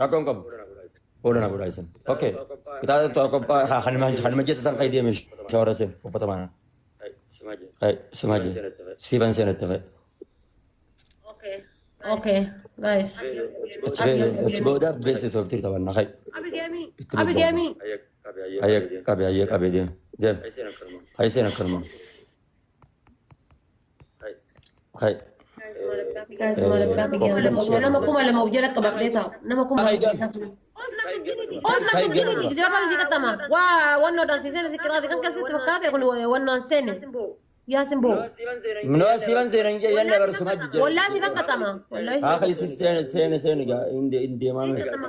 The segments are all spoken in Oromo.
Rakkoon qabu. Fuula na godhaa isin. Okay. Kitaaba tokkoffaa ha- hanuma hanuma jette san fayyadee mishi shawara seen uffata maana. Hai simaa jee. Siiban seenatti fa'i. Okay, guys. Achi bee achi booda beeksisa sooftii taphanna hai. Itti Abi bobba'u. Gemi. Ayyee qabee ayyee qabee deem deem. Hai seen akkanuma. Hay. Nama kuma lama of jala qabadhee taa'u. Nama kuma lama of jala qabadhee taa'u. Osna Bilginiti jira kan si qaxama. Waa wannoo dhaan si seena si qixaate kan keessatti fakkaate kun wannaan seene. Yaa sin boo. Minoo siiban seenan jee yanna barsuma jijjiirra. Wallaa si kan qaxama. Wallaa si Haa kan isin seene seene seene gaa hin deemaa. kan qaxama.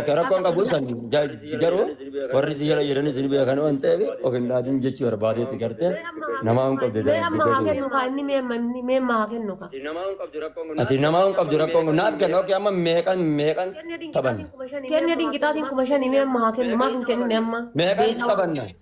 Akka rakkoon qabu san garuu warri si jala jiran isin beekan waan ta'eef of hin dhaadin jechuu barbaadeetti gartee namaa hin qabdu Mee amma haa kennu kaa inni mee amma inni mee amma haa kennu kaa. Ati namaa hin qabdu rakkoon kun naaf kenna okkee amma meeqan meeqan taphanna. Kenya dinqixaatiin kuma shanii mee amma haa kennu maaf hin kennine amma. Meeqan taphanna.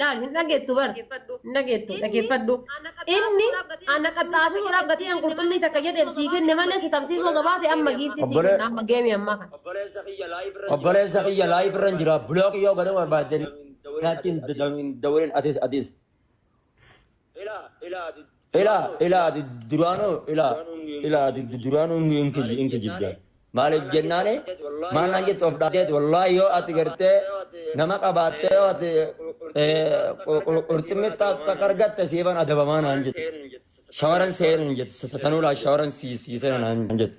Laal hin dhageettu bar. Dhaggeeffadhu. Hin dhageettu Inni dhaggeeffadhu. ana qaxxaamuruu Inni dhaabbatee ana qaxxaasisuu dhaabbatee an qurxummii takka jedheef sii kenne malee si tabsiisuu osoo baate amma giiftii sii Obbolee- kenna amma geemii ammaa kana. Obboleessa kiyya live irra Obboleessa kiyya live irra jira. Block yoo godhuu barbaaddan naatti hin dawwalin atis atis. Ilaa ilaa ati duraanuu ilaa ilaa ati duraanuu hin kiji hin kijibde maaliif jennaani maal naan jettu of dhaabdeet wallaahi yoo ati gartee nama qabaattee yoo ati qurximmitti akka argatte siifan adabamaa naan jette shawaran seenan jette sanuu laa shawaran siisee naan jette.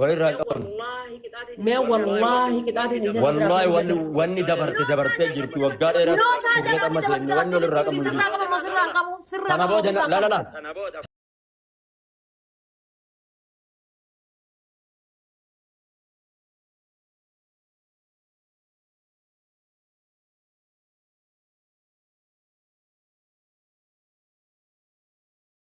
Waa irraa hin qabnu. Mee wallaahi qixaatiin isa Wallaahi wanni wanni dabarte dabartee jirti waggaa dheeraa turree qamma seenne wanni ol irraa qabnu hin jiru. Kana booda na- la la la.